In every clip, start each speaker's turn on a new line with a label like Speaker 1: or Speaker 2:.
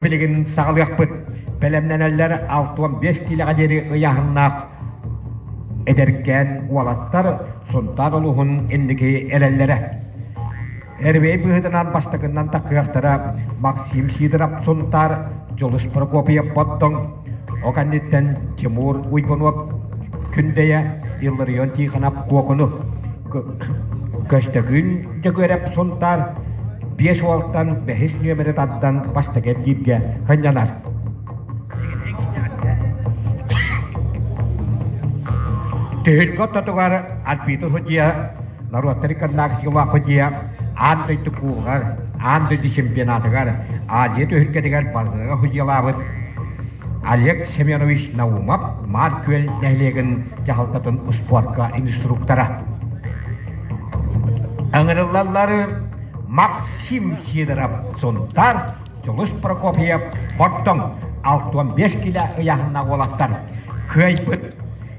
Speaker 1: Билигин саҕалыахпыт бэлэмнэнэллэр алта уон биэс киилэҕэ диэри ыйааһыннаах эдэркээн уолаттар Сунтаар улууһун инники эрэллэрэ. Эрбэй быһыытынан бастакынан таккыахтара Максим Сидоров Сунтаар, Дьулус Прокопьев Боттоҥ, ол кэнниттэн Тимур Уйгунов Күндэйэ, Илларион Тихонов Куокуну, Көстөкүүн Дьөгүөрэп Сунтаар биэс уолтан бэһис нүөмэри тардан бастакиэрдииргэ сынньанар Түһүлгэ ортотугар арбитр судья, норуоттар иконнаахыскалаах судья аан дойду кубогар, аан дойду чемпионатыгар Азия түһүлгэтигэр бастыҥа судьялаабыт Олег Семенович Наумов Маар-Күөл нэһилиэгин дьаһалтатын успуорка инструктора. Ыҥырыллаллары Максим Сидоров Сунтаар, Дьулус Прокопьев Бордоҥ алта уон биэс кило ыйаһынна уолаттар кыайбыт.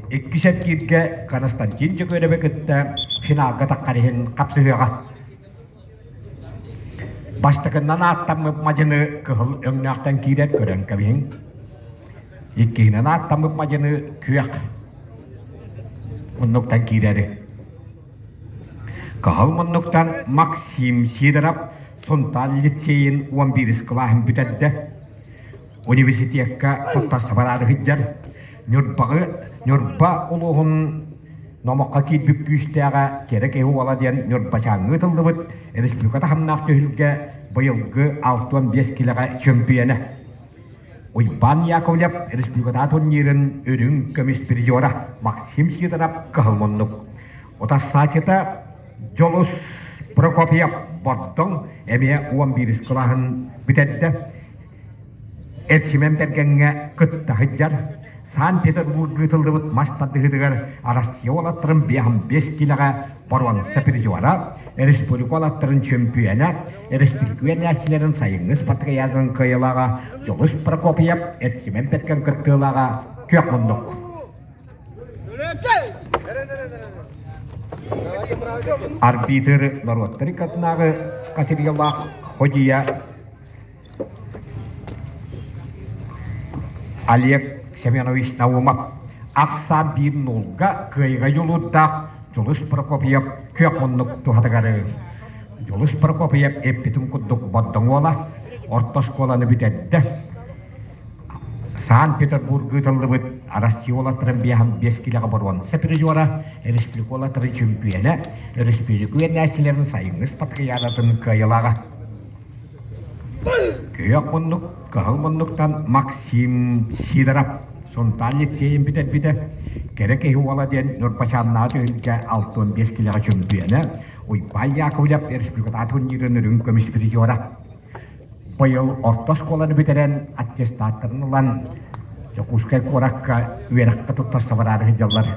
Speaker 1: Иккис эргииргэ Константин Дьөгүөрэби кытта финалга таххар иһин хапсыһыаҕа. Бастакыннан ааттаммыт мадьыны кыһыл өҥнөөхтөн киирэр көрөн кэбиһиҥ. Иккиһинэн ааттаммыт мадьыны күөх муннуктан киирэри. Кыһыл муннуктан Максим Сидоров Сунтааль лицейин уон биирис кылааһын бүтэрдэ. университекка туттарсабар аары сылдьар Ньурбаҕы Ньурба улууһун Номоххо киирбит күүстээҕэ Кэрэ киһи уола диэн Ньурбачааҥҥа ыытыллыбыт республика таһымнаах түһүлгэ быйылгы алта уон биэс килэҕэ чөмпүйэнэ. Уйбаан Яковлев республиката турнирын үрүҥ көмүс призера Максим Сидоров кыһыл муннук. Утарсаачыта Дьулус Прокопьев Бордоҥ эмиэ уон биирис кылааһын бүтэрдэ. Ил Сүмэн кэргэҥҥэ кытта сылдьар, Санкт-Петербурга ыытыллыбыт мас тардыһыытыгар Россия уолаттарын биэһин биэс киилэҕэ боруонса призера, республика уолаттарын чөмпүйүөнэ, республиканецтэрин сайыҥҥы спартакиадатын кыайыылааҕа Дьоҕус Прокопьев Ил Сүмэн кэргэн кыттыылааҕа күөх муннук. Арбитр норуоттар иккытынааҕы категориялаах ходья Олег Семенович Наумов ахсаан биир нуурга кыайга дьулуурдаах Дьулус Прокопьев күөх муннук туһатыгары Дьулус Прокопьев эппитин курдук Бордоҥуола орто оскуоланы бүтэрдэ. Санкт-Петербурга ыытыллыбыт Россиола Трамбиаһын биэс килэҕэ боруонса призера, республикола тары чөмпүйэнэ, өрөспүүбүлүкэ үөрэнээччилэрин сайыҥҥы спартакиадатын кыайылааҕа Күөх муннук, кыһыл муннуктан Максим Сидоров сунтаанньык сиэйин бүтэрбитэ, кэрэ киһи уола диэн Ньурбачааннааҕы түһүлгэ алта уон биэс килэҕэ чөмпүйэнэ Уйбаан Яковлев республиката атынныырын үрүҥ көмүс призера. Быйыл орто оскуоланы бүтэрэн аттестаттарын ылан Дьокуускай куоракка үөрэххэ туттарса бараары сылдьаллар.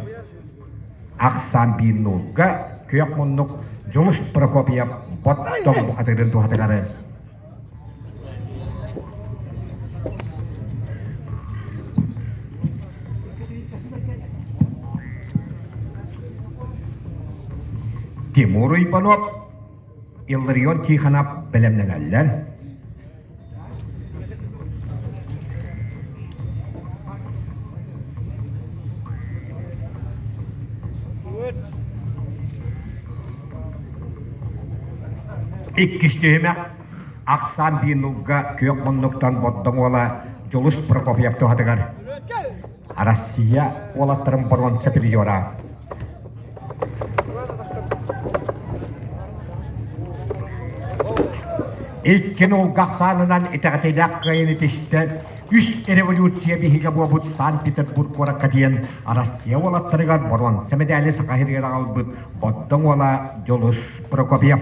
Speaker 1: ахсаан биир нуурга күөх муннук Дьулус Прокопьев боттон бухатыырын туһатыгары Тимур Ипанов Илларион Тихонов бэлэмнэнэллэр. Иккис түһүмэх ахсаан биир нулга күөх муннуктан Боддоҥуола Дьулус Прокопьев туһатыгар Арассыыйа уолаттарын боруон супeriора Иккин уулга ахсаанынан итэҕэтиилээх кыайыыны тиштэ үс революция биһигэ буолбут Санкт-Петербург куоракка тиийэн Арассыыйа уолаттарыгар боруонса мэдээли саха иһигэр аҕалбыт Боддоҥ уола Дьулус Прокопьев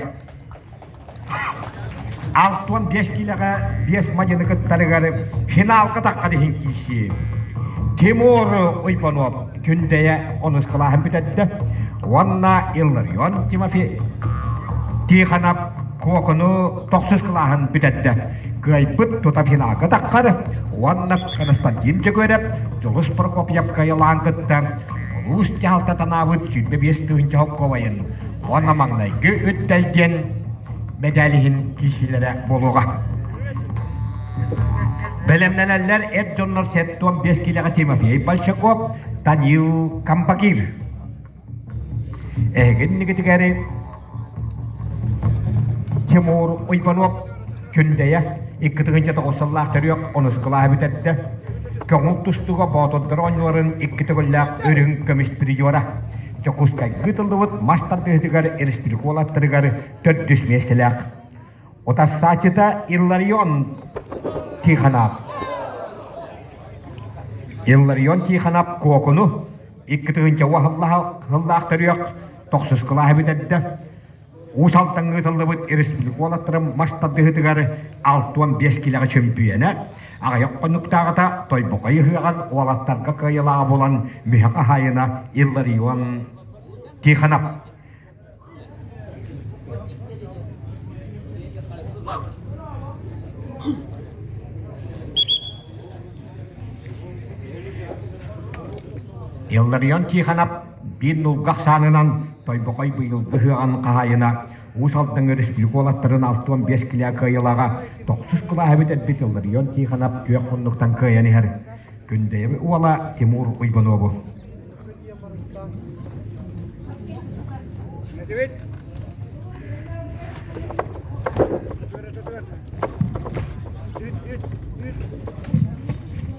Speaker 1: Алта уон биэс киилэҕэ биэс мадьыны кыттарыгар финалга таххат иһин киирсии. Тимур Уйбонов Күндэйэ онускалааһын бүтэрдэ уонна Илларион Тимофей Тихонов Кокону тохсускалааһын бүтэрдэ. Кыайбыт тута финалга таххар уонна Константин Чөгөрөп Дьулус Прокопьев кыайылаан кытта улуус дьаһалта танаабыт сүүрбэ биэс тыһыынча холкуобайын уонна маҥнайгы үттай диэн мэдээлиһин киирсиилэрэ буолуоҕа. Бэлэмнэнэллэр эр дьоннор сэттэ уон биэс киилэҕэ Тимофей Большаков, Танил Кампагир. Эһигин нигитигэри Тимур Уйбанов Күндэйэ икки тыгынча тоҕус төрүөх оноскалааһы бүтэрдэ. Көҥүл тустуга боотурдар оонньууларын икки төгүллээх үрүҥ көмүс призера. Дьокуускайга ыытыллыбыт мас тардыһытыгар республикалаттарыгар төрдүс миэстэлээх. Утарсаачыта Илларион Тихонов. Илларион Тихонов Кокуну икки тыгынча уоһыллаах төрүөх тохсускалааһы бүтэрдэ. Уус Алдаҥҥа ыытыллыбыт республиколотторум мас тардыһыытыгар алта уон биэс килэҕэ чөмпүйэнэ аҕыйах хонуктааҕыта Тойбохой ыһыаҕын уолаттарга кыайыылааҕа буолан мүһэ хаһаайына Илларион Тихонов Илларион Тихонов Биир нулга ахсаанынан Тойбохой быйыл быһыаҕын хаһаайына Уус Алдан өрөспүүкуолаттарын алта уон биэс килээ кыайылаҕа тохсус кылааһы бүтэрбит Илларион Тихонов күөх муннуктан кыайан иһэр. Күндэйэби уола Тимур Уйбануобу.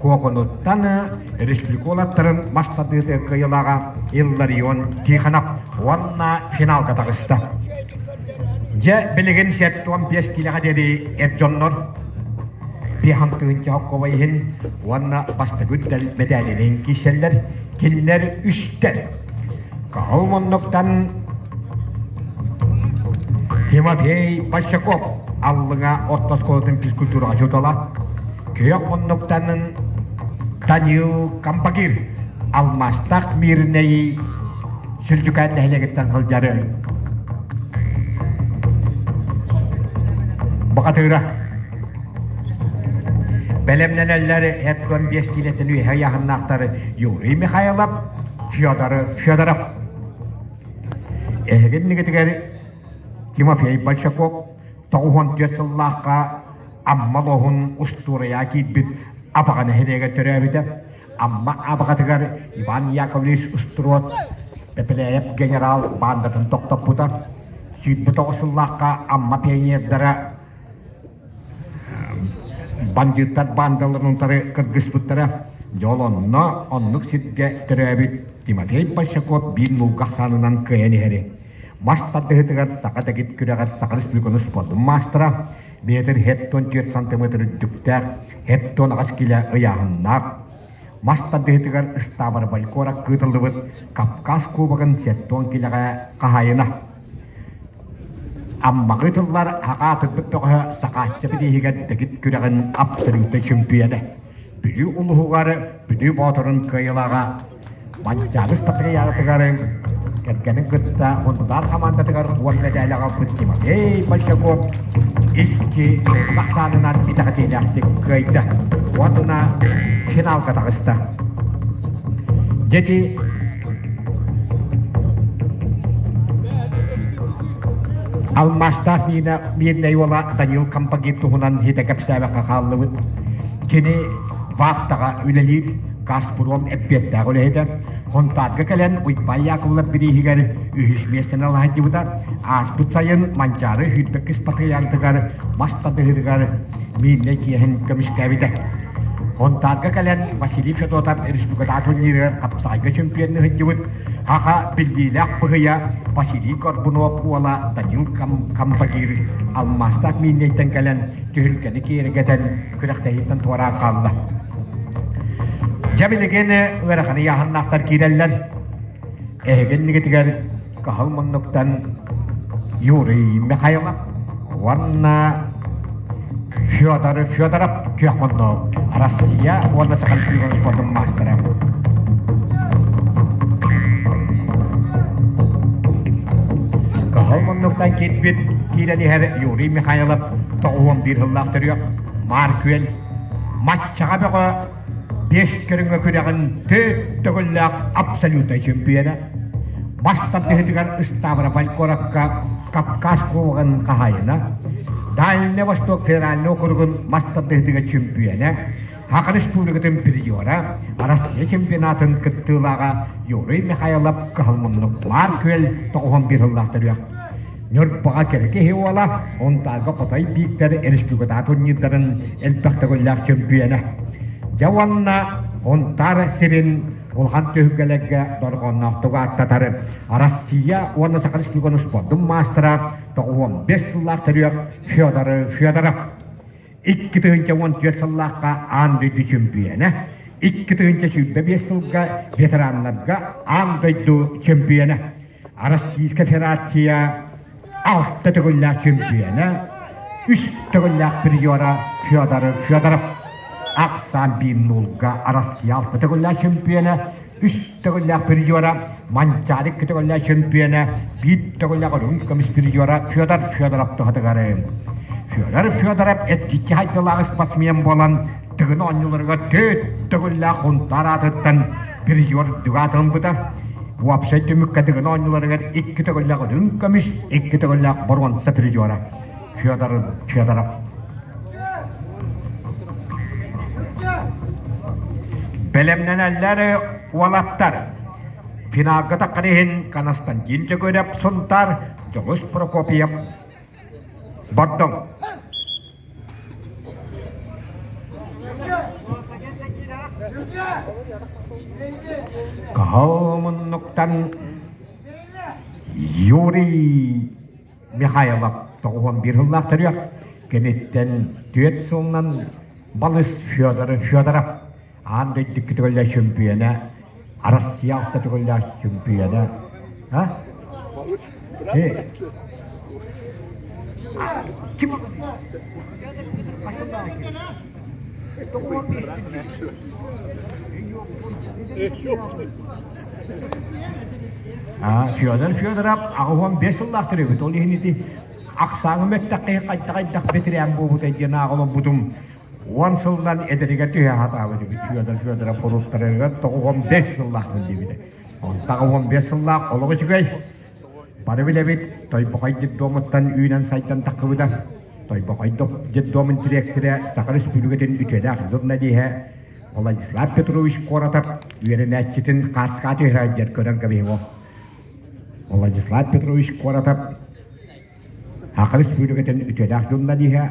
Speaker 1: Куокунуттан республиколоттарын бастатыытык кыйылаҕа Илларион Тихонов уонна финалга таҕыста. Дьэ, билигин сиэттэ уон биэс киилэҕэ диэри эр дьоннор Пихан Кыһынча Хоккова иһин уонна бастакы үтэл мэтээнинэн киирсэллэр, кинилэр үстэр Кыһыл муннуктан Тимофей Большаков Аллыҥа орто оскуолатын физкультураҕа учуутала, күөх муннуктанын Даниил Камбагир, алмаастаах Мирнэйи Сүлдьүкээн нэһилиэгиттэн сылдьары. Бухатыыра Бэлэмнэнэллэр эт уон биэс киилэттэн үөһэ ыйааһыннаахтары Юрий Михайлов, Федоров, Федоров. Эһиги иннигитигэр Тимофей Большаков тоҕуһун түөрт сыллаахха Амма лоһун устуоруйа киирбит Абаҕа нэһилиэгэ төрөөбүтэ. Амма Абаҕатыгар Иван Яковлевич Устуруот Пепеляев генерал баандатын тохтоппута. Сүүрбэ тоҕус сыллаахха Амма пионердара бандьыыттар баандаларын утары кыргыспыттара дьол онно оннук сиргэ төрөөбүт Тимофей Большаков биир мулга ахсаанынан кыайан иһэри мас тардыһытыгар саха дэгит күрэҕэр саха республикатын спордун маастара метр хеттон түөрт сантиметр үрдүктээх хеттон аҕас килэ ыйааһыннаах мас тардыһытыгар ыстаабар балькора кыытыллыбыт кавказ кубогын сеттон килэҕэ хаһайына Аммаҕы тыллар хакаатырбыт бөҕөһө сакааччыбыт иһигэр дэгит күрэҕин абсолютнай чөмпүйэнэ, Бүлүү улуһугар Бүлүү Боотурун кыайылаҕа Манчаалыс патриархатыгар кэргэнин кытта Хунтутаан хамаандатыгар уон мэдээлэҕэ Тимофей Большаков икки ахсаанынан итэҕэтиилээхтик кыайда уонна финалга таҕыста. Дьэ ити Алмаастаах Нина Мирнэй уола Данил Кампагит туһунан һитэ кэпсээбэккэ хааллыбыт. Кини вахтаҕа үлэлиир Газпром эппиэттээх үлэһитэ. Хонтаарга кэлэн Уйбай Яковлев бирииһигэр үһүс миэстэни алаһайдыбыта. Ааспыт сайын Манчаары үрбэккис патриархыгар мас тадыһыгар Мииллэ дьиэһин көмүскээбитэ. Хонтаарга кэлэн Василий Федотов республикатаатунньыырыгар хапсаайга чөмпүйүөннү сылдьыбыт Аха биллиилээх быһыйа Василий Горбунов уола Данил Кам Кампагир алмаастаах Мииннэйтэн кэлэн түһүлгэни киэргэтэн күрэхтэһииттэн туораан хаалла. Дьэ билигин ыараханы яһаннаахтар киирэллэр. Эһигин нигитигэр кыһыл муннуктан Юрий Михайлов уонна Федор Федоров күөх муннук Россия уонна Саха Республикатын спортун маастара. Кыһыл муннуктан киирбит киирэн иһэр Юрий Михайлов тоҕуон биир сыллаах төрүөх Маар Күөл матчаҕа бөҕө биэс көрүҥҥэ күрэҕин төрүт төгүллээх абсолютнай чөмпүйүөнэ бас тардыһыытыгар ыстаабырабай куоракка Кавказ кубогын хаһаайына, Дальнай Восток федеральнай округун мас тардыһыытыгар чөмпүйүөнэ, Аха Республикатын призера, Россия чемпионатын кыттыылааҕа Юрий Михайлов кыһыл муннук баар күөл тоҕуһун быыһыллаах төрүөх Ньурбаҕа кэрэ киһи уола, Онтааго Хотой Бииктэр республикатаатынньыктарын элбэх төгүллээх чөмпүйэнэ. Дьэ уонна Онтаар сирин улахан түһүлгэлэргэ дорҕоонноохтук ааттатар Россия уонна Саха Республикатын спордун маастара, тоҕуон бэс сыллаах төрүөх Федор Федоров. Икки тыһыынча уон түөрт сыллаахха аан дойду чөмпүйэнэ, икки тыһыынча сүүрбэ биэс сылга ветераннарга аан дойду чөмпүйэнэ. Российская Федерация алта төгүллээх чөмпүйэнэ, үс төгүллээх призера Федор Федоров ахсаан биир нуулга Россия алта төгүллээх чөмпүйэнэ, үс төгүллээх призера Манчаалык iki төгүллээх чөмпүйэнэ, биир төгүллээх Үрүҥ көмүс призера Федор Федоров туһатыгары. Федор Федоров эдгиччи хайдылаах спортсмен буолан Тыгын оонньууларыгар төрүт төгүллээх хунтаар аатыттан призер дьулаатылыммыта. Уопсай түмүккэ Тыгын оонньууларыгар икки төгүллээх үрүҥ көмүс, икки төгүллээх боруонса призера Федор Федоров. Бэлэмнэнэллэр уолаттар. Финалга иһин Константин Чөгүреп Сунтаар Дьоҕус Прокопьев Бордоҥ. Кыһыл муннуктан Юрий Михайлов тоҕуон биир сыллаах төрүөх, киниттэн түөрт сылынан балыс Федор Федоров аан дойду төгүлэ чөмпүйэнэ, Арассыыйа алта төгүлэ чөмпүйэнэ, Kim? Федор Федоров аҕыһуон бес сыллаахтар эбит. Ол иһин ити ақсааҥым эттэххэ хайда-хайдах бэтирээн буолбута диэн ааҕылбытым. уон сылынан эдэригэр түһэ сатаабыт эбит Федор Федоров уруттарыгар тоҕуһум бэс сыллаахпын диэбитэ онтах уон бэс сыллаах олох үчүгэй бары билэбит Тойбохой детдомуттан үүнэн сайдан таххыбыта Тойбохой детдомун дириэктирэ Саха Республикатын үтүөлээх журналиһа Владислав Петрович Коротов үөрэнээччитин хааскааты иһирайдьар көрөн кэбиһиҥо Владислав Петрович Коротов Саха Республикатын үтүөлээх журналиһа,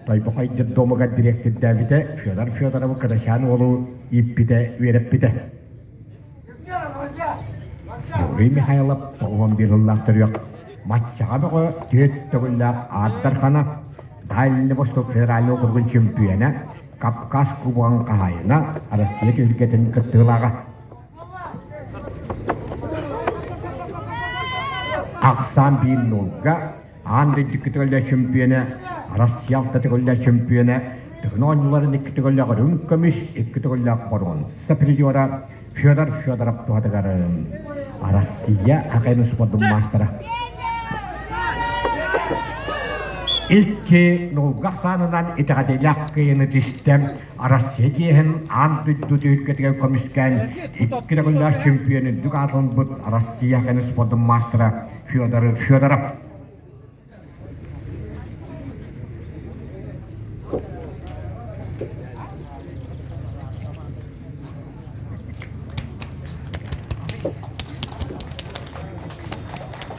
Speaker 1: Тойбохой детдомугар дириэктирдээбитэ Федор Федорову кырачаан уолу ииппитэ, үөрэппитэ. Григорий Михайлов тоҕуһун биир сыллаах төрүөх Матчаҕа бөҕө түһүт төгүллээх аардархана, Дальний Восток федеральнай округун чөмпүйэнэ, Кавказ кубогын хаһаайына, Россия түһүлгэтин кыттыылааҕа. Ахсаан биир нуурга аан дойдуккутугар да чөмпүйүөнэ, Россиялкатыгар да чөмпүйүөнэ, тыгын оонньууларын иккитигөллөөх үрүҥ көмүс, иккитигөллөөх боруон сопризера Федор Федоров туһатыгар Россия хоккейный спордун маастара. Икки нуурга ахсаанынан итэҕэтиилээх кыйыны тистэ Арассыыйа чиэһин аан дойду түһүлгэтигэр көмүскээн икки регулярь чемпион үрдүк аатын ылбыт Арассыыйа хэнэ спордун маастара Федор Федоров.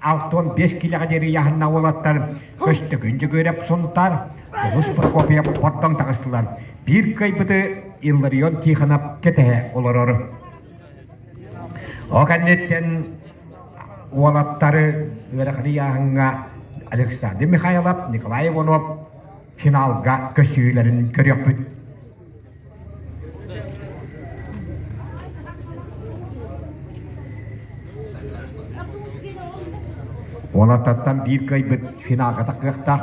Speaker 1: алта уон биэс килэҕэ диэри ыйааһынна уолаттар Көстөкүн Дьөгүөрэп Сунтаар Дьулус Прокопьев Бордоҥ таҕыстылар. Биир кыайбыты Илларион Тихонов кэтэһэ олорор. О кэнниттэн уолаттары ыарахан ыйааһыҥҥа Александр Михайлов, Николай Иванов финалга көсүһүүлэрин көрүөхпүт. Уолаттартан биир кыайбыт финалката кыахтаах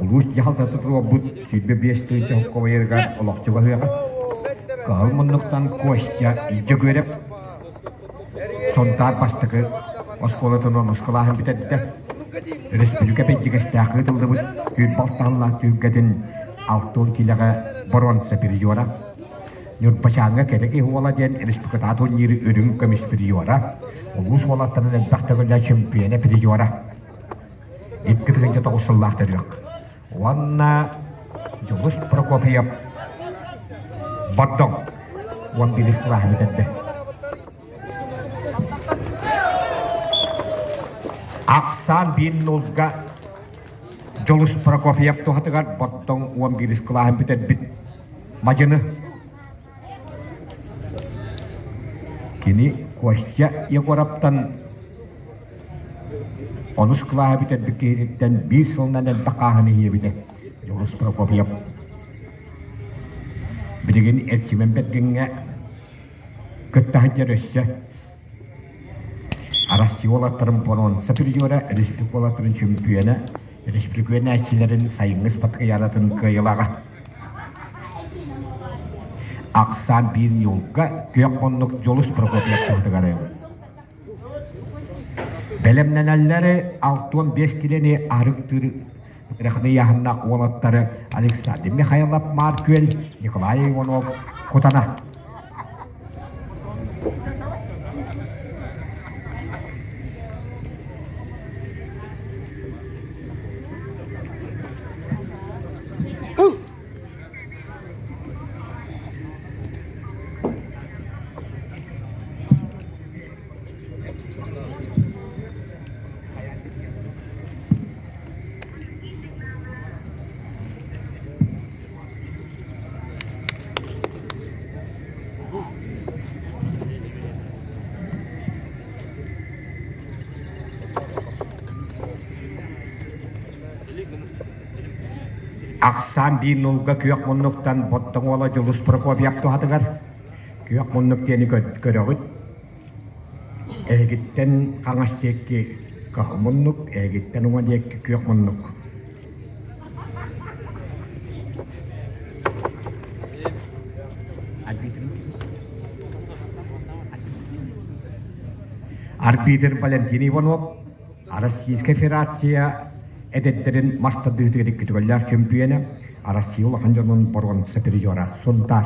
Speaker 1: улуус дьаһалтатын руорбут сүүрбэ биэс тыһыынча хоккобайарыгар олохчу баһыаҕа. Кыһыл муннуктан Костя Дьөгүөрэп Сунтаар бастакы оскуолатынан оскуолаһын бүтэрдэ. Өрөспүүбүлүкэ бэйдьигэстээх ыытыллыбыт түүл балтаһыллаах түһүлгэтин алта уон киилэҕэ боруонса приора, Ньурбачааҥҥа кэрэ киһи уола диэн республикатаатыллыыр үрүҥ көмүс приора, улуус уолаттарын элбэх төгүллээх чөмпүйэнэ приора. Икки тыһыынча тоҕус сыллаах төрүөх. уонна Дьулус Прокопьев Бордоҥ уон биирис кылааһы бүтэрдэ. Ахсаан биир нулга Дьулус Прокопьев туһатыгар Бордоҥ уон биирис кылааһын бүтэрбит Мадьыны Кини Костя Егоровтан онус кылааһы бүтэрбит киһититтэн биир сылынан элбэх хааһыны иһиэбитэ Дьоҕус Прокопьев. Билигин Эрчимэн Бэргэҥҥэ кытта сылдьар өссө Арассыыйалартан боруонса призера, республикалартан чөмпүйүөнэ, республиканецчилэрин сайыҥҥы спорт ыйаанатын кыайылаҕа. Ахсаан биир ньуурга күөх оннук Дьулус Прокопьев туһатыгар бэлэмнэнэллэри алта уон биэс килэни арыктыыр Рахатыйааһыннаах уолаттары Александр Михайлов, Марк Күөл, Николай Иванов, Кутана. Ахсаан биир нулга күөх муннуктан Боттоҥуола Дьулус Прокопьев туһатыгар күөх муннук диэни көрөҕүт. Эһигиттэн хаҥас диэки хоһо муннук, эһигиттэн уҥа диэки күөх муннук Арбитр Валентин Иванов Российская Федерация эдэрдэрин мас тардыһыытыгар икки төгүллээх чөмпүйүөнэ Россия улахан дьонун боруонса призера Сунтаар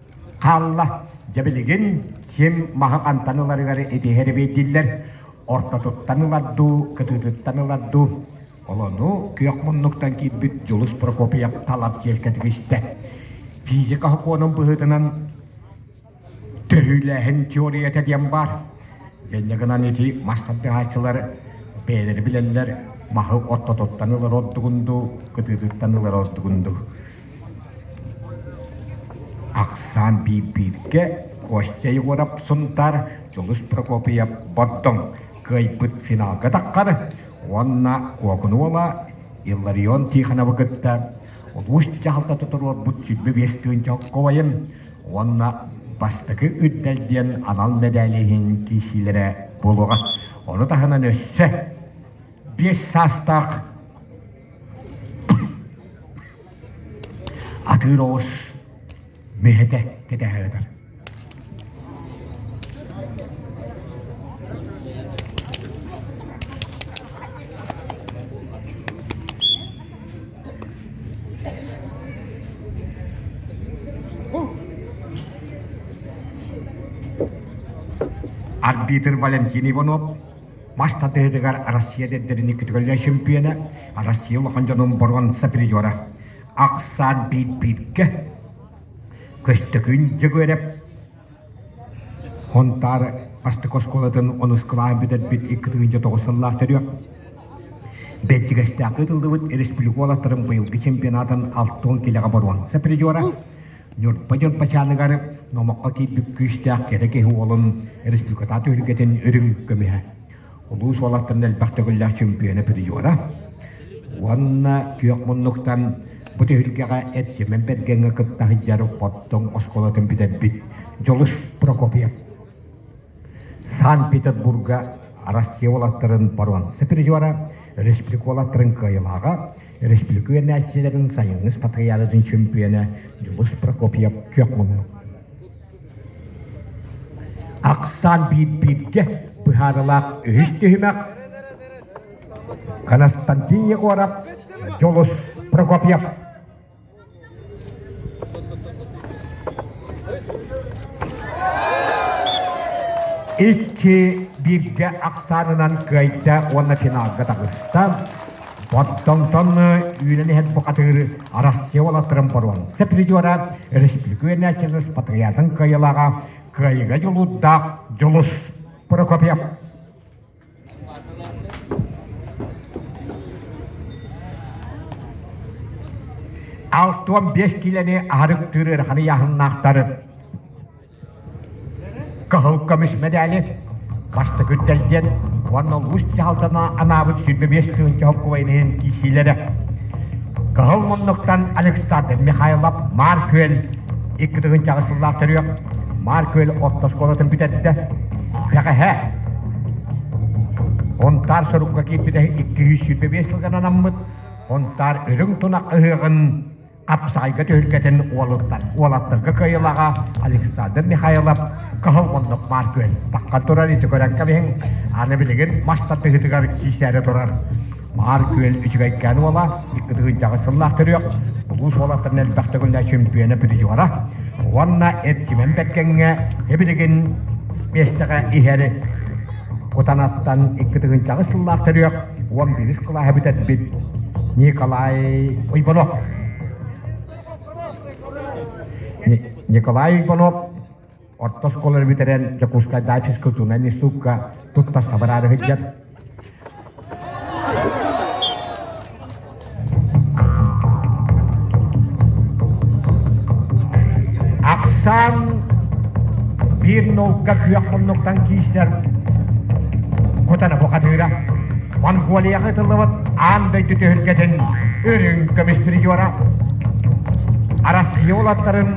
Speaker 1: хаалла. Дьэ билигин ким маһы хантан ыларыгар итиһэр эбэйдиллэр. Ортотуттан ылар дуу, кытыытыттан ылар дуу. Олону күөх муннуктан киирбит Дьулус Прокопьев талар тиэлкэтик истэ. Физика сокуонун быһыытынан төһүүлээһин теориятэ диэн баар. Итиннэ гынан ити мас тардыһааччылар бэйэлэрэ билэллэр маһы ортотуттан ылар ордугун дуу, кытыытыттан ылар ордугун дуу. Ахсаан биирдииргэ Костя Егоров Сунтаар Дьулус Прокопьев Бордоҥ кыайбыт финалга таххар уонна Куокунуола Илларион Тихоновы кытта улуус дьаһалта туруорбут сүлбэ биэс тыһыынча оскуолайын уонна бастакы Үрдэл диэн анал мэдээли иһин киирсиилэрэ буолуоҕа. Ону таһынан өссө биэс саастаах атыыр оҕус миһэтэ кэтэһэ сытар арбитр валентин иванов мас тардыһыытыгар Россия дэдэрини күтүгэллэр чөмпүйэнэ, Россия улахан дьонун боруон сапризера Аксан биир-бииргэ Көстөкүүн Дьөгүөрэп Хонтаары бастык оскуолатын онускалаан бүтэрбит икки тыһыынча тоҕус сыллаах төрүөх Бэлдьигэстээх ыытыллыбыт республика уолаттарын быйылгы чемпионатын алты уон килэҕэ боруон сапризера Ньурба Дьурбачааныгар Номоххо киирбит күүстээх кэрэ киһи уолун республикатаан түһүлгэтин үрүҥ көмүһэ, улуус уолаттарын элбэх төгүллээх чемпиона призера уонна күөх муннуктан бу түһүлгэҕэ Эд Семен Бергеҥҥэ кытта сылдьар Боттоҥ оскуолатын бүтэрбит Дьолус Прокопьев. Санкт-Петербурга Россия уолаттарын боруонса призера, республика уолаттарын кыайылааҕа, республика үөрэнээччилэрин сайыҥҥыс патриаратын чөмпүйэнэ Дьулус Прокопьев күөх муннук. Ахсаан биир-бииргэ быһаарылаах үһүс түһүмэх Константин Егоров, Дьулус Прокопьев Икки биирдэ ахсаанынан кыайда уонна финалга таҕыста. Боттонтонну үүнэн иһэр бухатыыр Россия уолаттарын боруонса призера өрөспүүкү Челус Патриотын кыайылааҕа кыайыга дьулуурдаах Дьулус Прокопьев алтыан биэс киилэни аһарыктыыр ыараханы яһыннаахтарын кыһыл көмүс медали бастакы үрдэлдиэн уонна улуус дьаһалтана анаабыт сүрбэ биэс тыһынча холкубайын иһин киисиилэрэ кыһыл муннуктан Александр Михайлов Маар Күөл икки тыһынчаҕы сыллаах төрүөх Маар Күөл орто оскуолатын бүтэрдэ. Бэҕэһээ Унтаар сорукка киирбитэ икки сүүс сүүрбэ биэс сылган анаммыт Унтаар үрүҥ тунах ыһыаҕын хапсаҕайга түһүлгэтин уолаттарга кыайылаҕа Александр Михайлов кыһыл оннук бааргүөл таххан турар ити көрөн кэбиһиҥ аны билигин мас тардыһыытыгар киирсээри турар Баар күөл үчүгэйкээн уола, икки тыһыынчаҕыс сыллаах төрүөх улуус уолаттарын элбэх төгүлэ чөмпүйэнэ призера уонна Эрчимэн Бэккэҥҥэ эбилигин миэстэҕэ иһэр Кутанаттан икки тыһыынчаҕыс сыллаах төрүөх уон биирис кылааһы бүтэрбит Николай Уйбанов. Николай Уйбанов орто оскуоланы бүтэрэн Дьокуускайдааҕы физкультурнай институкка тутта сабыраары сылдьар. Ахсаан биир наука күөх муннуктан киирсэр кутана бухатыыра. Монголияҕа ытыллыбыт аан дойду түһүлгэтин үрүҥ көмүс призера. Арассыыйа улаттарын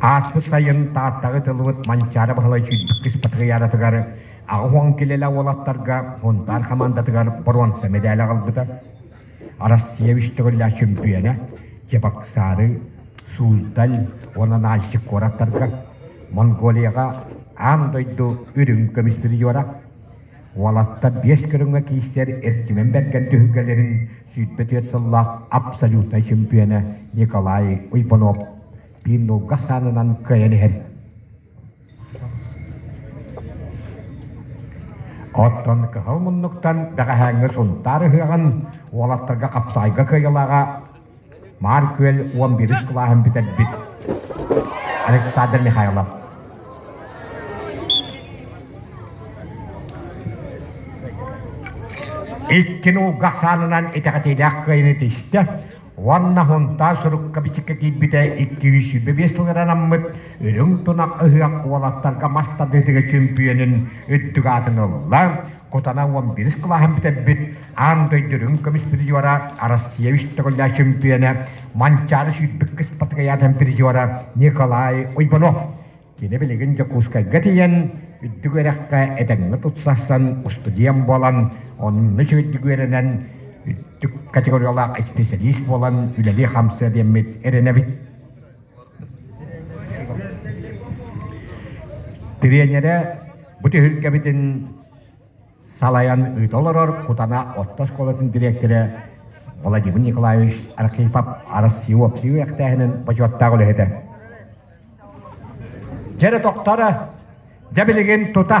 Speaker 1: Ааспыт сайын Тааттаҕа ытыллыбыт Манчаары Баһылай сүүрбүккүс патриаратыгар аҕа килэлэ уолаттарга хунтаар хамаандатыгар боруонса мэдээлэ аҕалбыта. Арассыыйа үстүгүрүлээх чөмпүйүөнэ Чебоксары, Сууздаль уонна Нальчик куораттарга, Монголияҕа аан дойду үрүҥ көмүс бридьора Уолаттар биэс көрүҥҥэ киирсэр Эрчимэн Бэргэн түһүлгэлэрин сүүрбэ түөрт сыллаах абсолютнай чөмпүйэнэ Николай Уйбанов биир нулгах саанынан кыайан иһэр. Оттон кыһыл муннуктан бэҕэһээҥҥи Сунтаар ыһыаҕын уолаттарга хапсаайга кыайылааҕа Маар Күөл уон биирис кылааһын бүтэрбит Александр Михайлов икки нууга ахсаанынан итэҕэтиилээх кыайыыны тиистэ уонна Хунтаа сурукка бичиккэ киирбитэ икки сүүс сүүрбэ биэс сылыгар анаммыт Үрүҥ тунах ыһыах уолаттарга мас тардыытыгар чөмпүйүөнүн үрдүк аатын ылла. Кутана уон биирис кылааһын бүтэрбит аан дойду үрүҥ көмүс призера Россия үстөҕүллээх чөмпүйэнэ Манчаары сүүрбүк кыспатыкайаатын призера Николай Уйбанов. Кини билигин Дьокуускайга тиийэн үрдүк үөрэххэ этэҥҥэ тутсарсан устудьуон буолан, онно сүрдүк үөрэнэн үрдүк категориялаах исписэлиис буолан үлэлии-хамсыа диэммит эрэнэбит. Тириэньэрэ бу түһүлгэбитин салайан ыыта олорор Кутана орто оскуолатын дириэктэрэ Владимир Николаевич Архипов арыс всеобщий үөрэхтээһинин бочуоттаах үлэһитэ. Дьэрэ тохторо, дьэ билигин тута.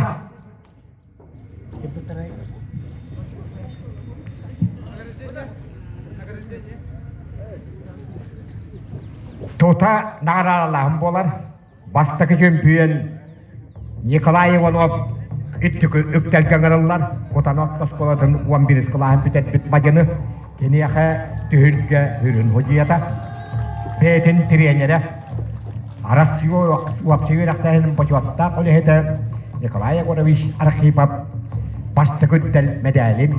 Speaker 1: Тута наҕараалаһым буолар. Бастакы чөмпүйүөн Николай Иванов үрдүкү үктэлгэ ыҥырыллар Кутана орто оскуолатын уон биирис кылааһын бүтэрбит мадьыны киниэхэ түһүлгэ сүрүн судьуйата, бэйэтин тириэньэрэ, Арассыыйа уопсай үөрэхтээһинин бочуоттаах үлэһитэ Николай Егорович Архипов бастакы үктэл мэдээлин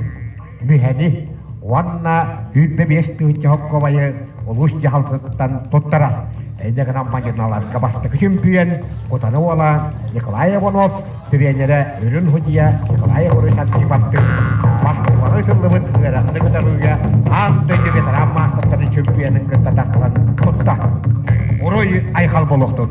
Speaker 1: Бүһэни уонна сүүрбэ биэс тыһыынча хоккобайы улуус дьаһалтатыттан туттара. Иннэ гынан мадьыналарга бастакы чөмпүйүөн Кутаны уола Николай Иванов, тренерэ үрүн худьуйа Николай Егорович Антипаттык Москубаҕа ыытыллыбыт ыарахан кытарыыга аан дойду ветеран маастартарын чөмпүйүөнүн кытта тахсан тутта. Уруй Айхал буолуохтун!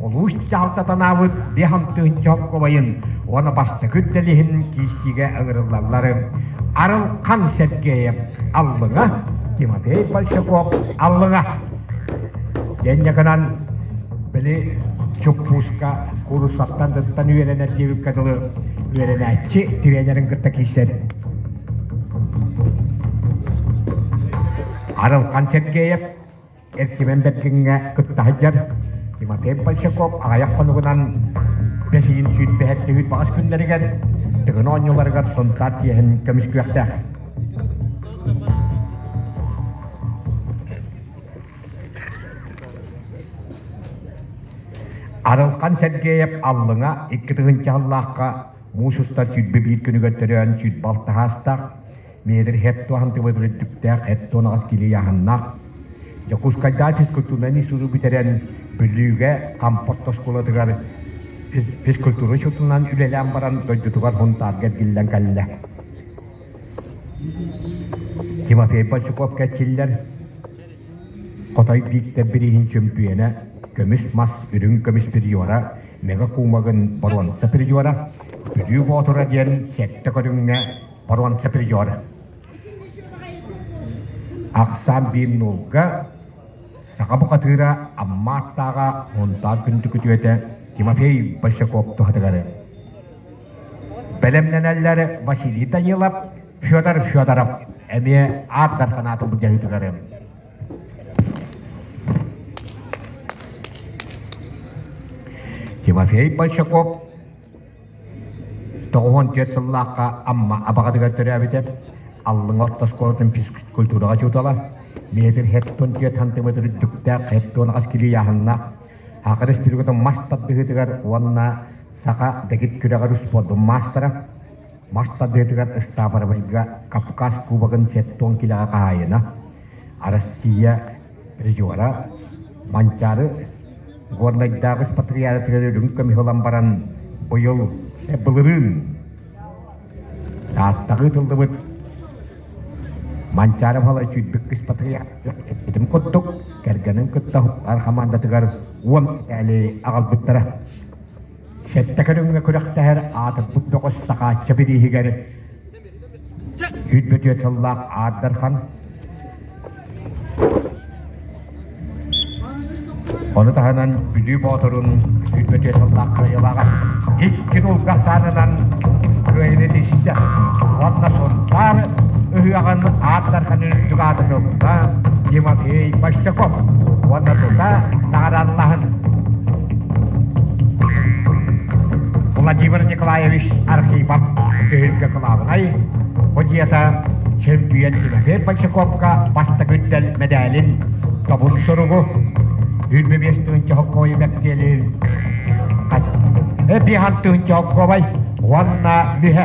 Speaker 1: улуус дьаһалтатанаабыт биһам тыһынча оскуобайын уонна бастакы үлдэлиһин киирсиигэ ыҥырыллалларын Арылхан Сергеев Аллыҥа, Тимофей Большаков Аллыҥа диэнньэ гынан били чуппууска куруссаттан дыттан үөрэнэр диэбиккэ дылы үөрэнээччи тренерин кытта киирсэр Арылхан Сергеев Эрчимэн Бэргиҥҥэ кытта сылдьар Тимофей Большаков аҕыйах хонугунан Бэсиин сүүрбэһэр түһүүт баҕас күннэригэр Тыгын оонньууларыгар Сунтаар тиэһин көмүскүөхтээх. Арылхан Сергеев Аллыҥа икки тыһыынча сыллаахха муус устар сүүрбэ биир күнүгэр төрөөн сүүрбэ алта саастаах Метр хэт туоһан тыбыт үрдүктээх хэт туонаҕас килийааһыннаах Дьокуускайдаа физкультурнай сурук бүтэрэн Бүлүүгэ Хампот оскуолатыгар физкультура учетунан үлэлээн баран дойдутугар Хунтаарга эргиллэн кэллэ. Тимофей Большаков кэчиллэр Хотой Бииктэр бирииһин чөмпүйэнэ көмүс мас үрүҥ көмүс приора мега куумагын боруонса приора Бүлүү Боотура диэн сэттэ көрүҥҥэ Боруонса приор. Ахсаан биир нуулга саха бухатыыра Аммааттааҕа мунтаан күндү күтүөтэ Тимофей Большаков туһатыгары. Бэлэмнэнэллэр Василий Данилов, Федор Федоров эмиэ аат дарханаатын былдьаһыытыгары. Тимофей Большаков Тоҕуһун түөрт сыллаахха Амма Абаҕатыгар төрөөбүтэ, Аллыҥа орто оскуолатын физкультураҕа учуутала, метр-хеттон түөрт хантыыматыр үрдүктээх хеттон аҕыс кирилиэһиннээх, Аха Республикатын мас тардыһыытыгар уонна саха дэгит күрэҕэр успуордун маастара, мас тардыһыытыгар ыстаапырабылга Кавказ кубогын сеттон килэҕэ хаһаайына, Арассыыйа призера, Манчаары Горнайдааҕы испатриатыгар үрүҥ көмүс ылан баран быйыл былырыын Тааттаҕа ыытыллыбыт Манчаары Балай сүүрбүкк испатриаттым курдук кэргэнин кытта хомаандатыгар уон этээли аҕалбыттара сэттэ көрүҥҥэ күрэхтэһэр аатырбыт бөҕөс сакаачча бирииһигэр сүүрбэ сыллаах Аар Дархан Ону таһынан Бүлүү Боотурун сүүрбэ сыллаах кыайылааҕа икки дулга аһаанынан кыайыны тиштэ уонна Сунтаар ыһыаҕын Аар Дарханын үрдүк аатын ылта Тимофей Большаков уонна тута наҕарааннаһын Владимир Николаевич Архипов түһүлгэ кылаабынай подьета чемпион Тимофей Большаковка бастакы дэл медалин тобун суругу Үлбэ биэс тыһын чохокковой мэктиэлиир Эпи хан тыһын чохокковай уонна бүһэ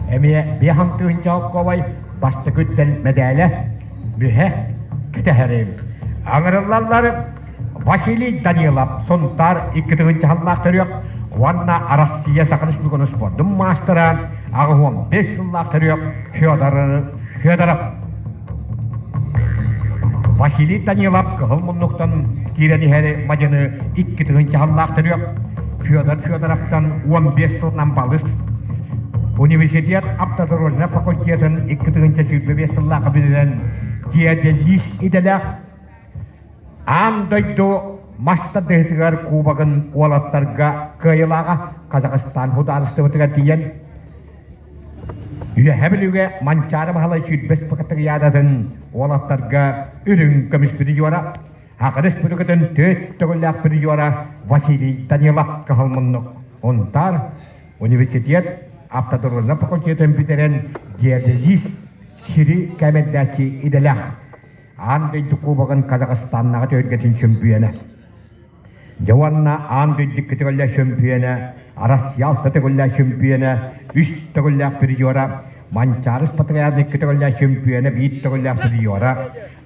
Speaker 1: эмиэ биэс хамтыыһынча оптуобай бастакы үттэн мэдээлэ бүһэ кэтэһэрим. Аҥырыллаллар Василий Данилов, Сунтаар икки тыгынча саллаах төрүөх уонна Арассыыйа Саха Республикатын спордун маастара, аҕыс уон бес сыллаах төрүөх Федор Федоров. Василий Данилов кыһыл муннуктан киирэн иһэри мадьыны икки тыһыынча сыллаах төрүөх Федор Федоровтан уон биэс сылынан балыс университет автодорожнай факультетын икки тыһыынча сүүрбэ биэс сыллаах бүтэрэн геодезист идэлээх аан дойду мастардыһытыгар кубогын уолаттарга кыайылааҕа Казахстан судаарыстыбатыгар тиийэн Үөһэ Бүлүүгэ Манчаары Баһылай сүүрбэс пакеттык яадатын уолаттарга үрүҥ көмүс призера, Аҕа Республикатын төрүт төгүллээх призера Василий Данилов кыһыл муннук унтаар университет автодорожнай факультетын бүтэрэн диализис сири кээмэйдээччи идэлээх аан дойду кубогын Казахстаннааҕы түһүлгэтин чөмпүйүөнэ Дьэ уонна аан дойду икки төгүллэ чөмпүйүөнэ, Арассыал төгүллэ чөмпүйүөнэ, үс төгүллээх призера, Манчаарыс Патриарх икки төгүллээх чөмпүйүөнэ, биир төгүллээх призера,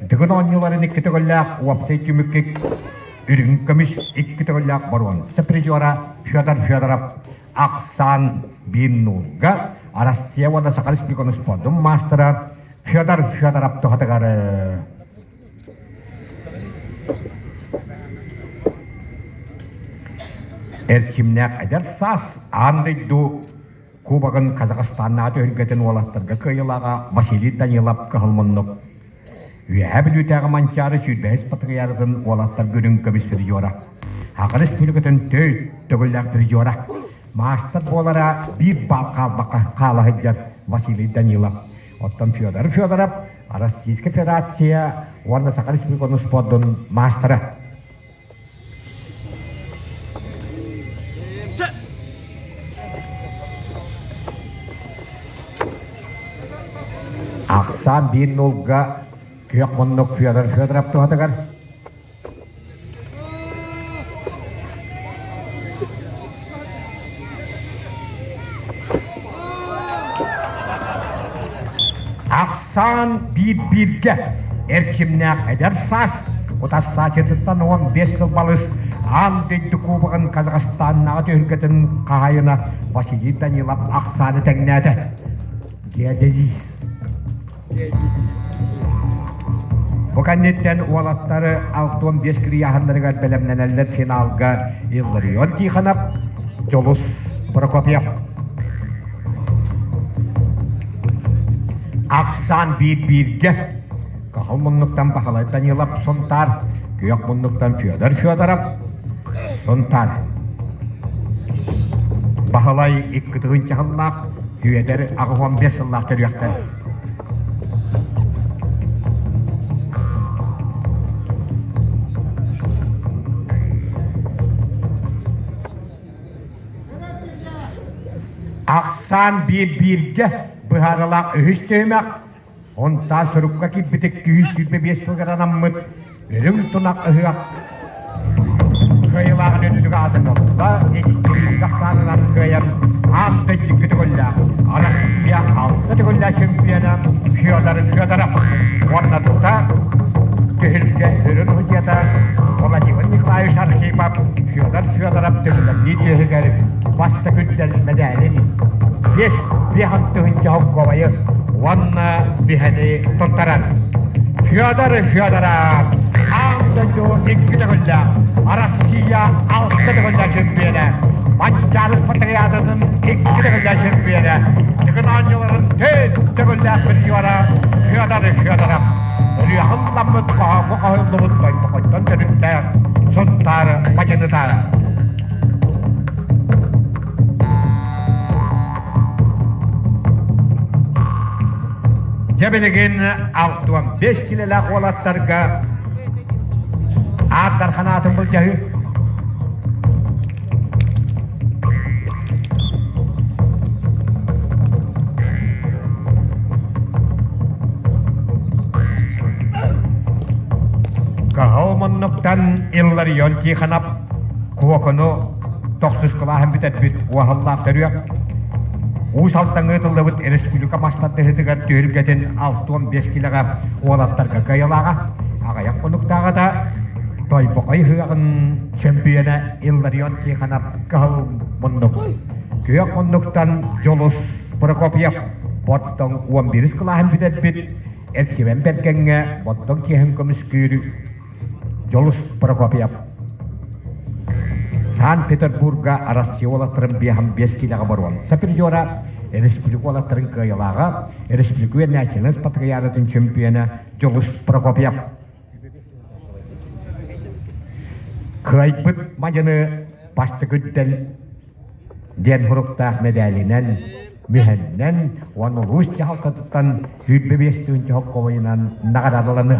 Speaker 1: Дыгын оонньууларын икки төгүллээх уопсай түмүккэ үрүҥ көмүс икки төгүллээх боруонса призера Федор Федоров ахсаан биир нуурга Арассыыйа уонна Саха Республикатын спордун маастара Федор Федоров туһатыгар Эрчимнээх эдэр саас аан дойду Кубогын Казахстаннаҕа түһэргэтин уолаттарга кыайылааҕа Василий Данилов кыһыл муннук. Үөһэ Бүлүүтээҕи Манчаары сүүрбэһис патриархын уолаттарга үрүҥ көмүс призера. Аҕа республикатын төрүт төгүллээх призера. Маастар буолара биир баал хаалбакка хаала сылдьар Василий Данилов. Оттон Федоров Федоров Российская Федерация уонна Саха Республикатын спордун маастара. Ахсаан биир нулга күөх муннук Федор Федоров туһатыгар ахсаан биир-бииргэ эрчимнээх эдэр саас утарсаачытыттан уон бес сыл балыс аан дойду кубогын Казахстаннааҕы түһүлгэтин хаһаайына Василий Данилов ахсааны тэҥнээтэ. Геодезис Бу кэнниттэн уолаттары алта уон биэс кырыйааһыннарыгар бэлэмнэнэллэр финалга Илларион Тихонов, Дьулус Прокопьев. Ахсаан биир бииргэ Каһыл муннуктан Баһылай Данилов Сунтаар, Күөх муннуктан Федор Федоров Сунтаар. Баһылай икки тыһыынча Үөдэр аҕыс уон биэс сыллаах төрүөхтэн ахсаан биир бииргэ быһаарылаах үһүс түһүмэх Онтаа сурукка киирбитик күүс сүүрбэ биэс сылыгар анаммыт Үрүҥ тунах ыһыах кыайылааҕын үрдүк аатын ылла, индистриириг ахсаанынан кыайан аан дойдуга төгүллээх Арассыыйа алта төгүллээх чемпиона Федор Федоров уонна тута түһүлгэ үрүн судьята Владимир Николаевич Архипов Федор Федоров төбөлөрнүү түөһүгэр бастакы үрдэл мэдээлин биэс биэс алтыһынча холкуобайы уонна биһэни туттарар Федор Федоров аан дойду икки төгүллээх Россия алта төгүллээх чөмпүйэнэ Манчаары патриотатын икки төгүллээх чөмпүйэнэ тыгынаанньыларын төрт төгүллээх призера Федор Федоров ырыаһылламмыт хоһооҥҥо хоһуллубут дойбоҕоттон төрүттээх Сунтаар бачыныта Дьэ билигин алта уон бэс килэлээх уолаттарга аат дархан аатын былдьаһыы. Каһал муннуктан Илларион Тихонов Куокуну тохсус кылааһын бүтэрбит Уоһаллаах төрүөх Уус Алдаҥҥа ыытыллыбыт республика мастардыһыытыгар түһүлгэтин алта уон биэс килэҕэ уолаттарга кыайылааҕа аҕыйах хонуктааҕыта Тойбохой ыһыаҕын чөмпүйүөнэ Илларион Тихонов кыһыл муннук күөх муннуктан Дьулус Прокопьев Бордоҥ уон биирис кылааһын бүтэрбит Эрчимэн Бэргэҥҥэ Бордоҥ чиэһин көмүскүүр Дьулус Прокопьев Санкт-Петербурга Россия уолаттарын биэһам биэс киилэҕэ боруон сапризера республика уолаттарын кыайылааҕа республика национальность патриаратын чемпиона Дьулус Прокопьев кыайбыт мадьыны бастыгүддэл диэн хуруктаах медалинэн мүһэннэн уонна улуус дьаһалтатыттан сүүрбэ биэс тыһыынча хоккобойунан наҕараадаланыа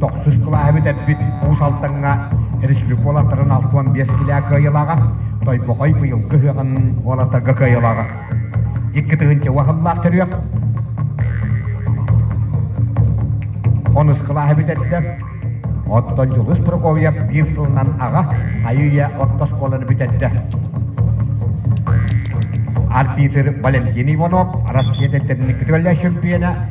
Speaker 1: Тохсус кылааһы бүтэрбит Уус Алдаҥҥа республикаларын алта уон биэс килээ кыайылаҕа, Тойбохой быйылгы ыһыаҕын уолаттарга кыайылаҕа. Икки тыһыынча уһаллаах төрүөх. Онус кылааһы бүтэрдэ. Оттон Дьулус Прокофьев биир сылынан аҕа Айыыйа орто оскуоланы бүтэрдэ. Арбитр Валентин Иванов Россия тэртэрин күтүөллэс чемпиона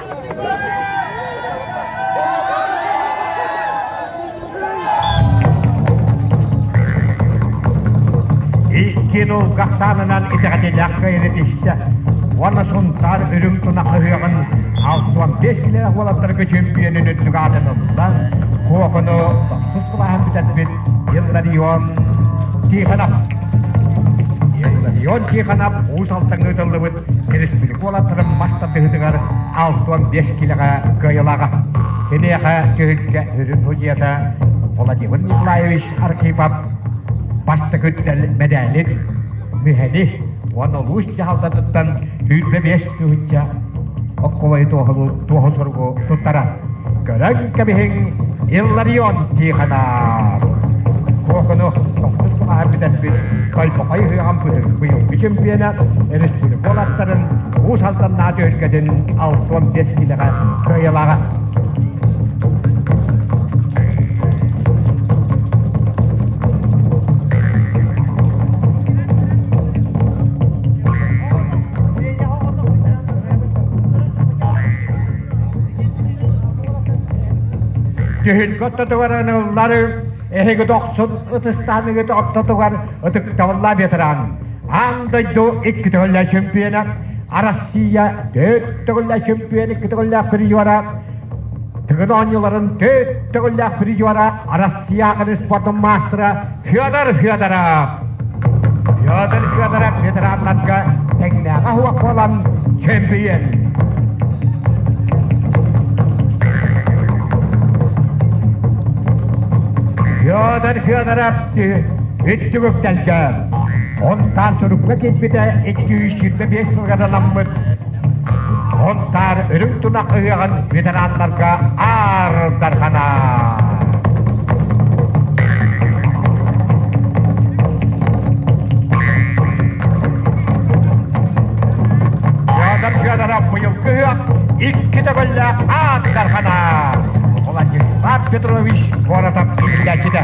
Speaker 1: Икки дыл гахтаанынан итэҕэтилээх кэйри түстэ уонна Сунтаар үрүҥ туна хаһыаҕын 65 килээх уолаттарга чөмпүйэнин үрдүк аатыныллан Куокуну тохсус кылааһын бүтэрбит Илларион Тихонов Илларион Тихонов уус алтанга ыытыллыбыт Республика уолаттарын мас тардыһытыгар алта уон биэс килэҕэ кыайылаҕа. Киниэхэ түһүлгэ сүрүн судьята Владимир Николаевич Архипов бастакы үттэл мэдээлин, мүһэни уонна улуус дьаһалтатыттан сүүрбэ биэс тыһыынча окковай туоһу суругу туттара. Көрөн кэбиһиҥ, Илларион Тихонов. Кокону тохтук тумаһар бүтэрбит Тойбохой ыһыаҕын быйылгы чемпиона республика уолаттарын Уус Алданнаа түһүлгэтин алта уон биэс киилэҕэ кыайылаҕа. Дьүһүнкэ ортотугар ыныллар эһиги дохсун ытыстааныгыт ортотугар ытыктабылла ветеран аан дойду икки төгүллэ чемпиона Россия төрт төгүллэ чемпион икки төгүллээх призера Тыгын оонньууларын төрт төгүллээх призера Россия аҕын спортун маастара Федор Федоров Петр Федоров ветераннарга тэҥнээҕэ оһуох буолан чөмпүйүөн Федор Федоров Үттүгүктэлгэ онтан сурукка киирбитэ 225 сылга аналаммыт Онтаар үрүҥ тунах ыһыаҕын ветераннарга аардарҕанар. Федор Федоров быйылгы ыһыах икки төгүллээх аардарҕанар. Владислав Петрович куоратов иһиллээччитэ.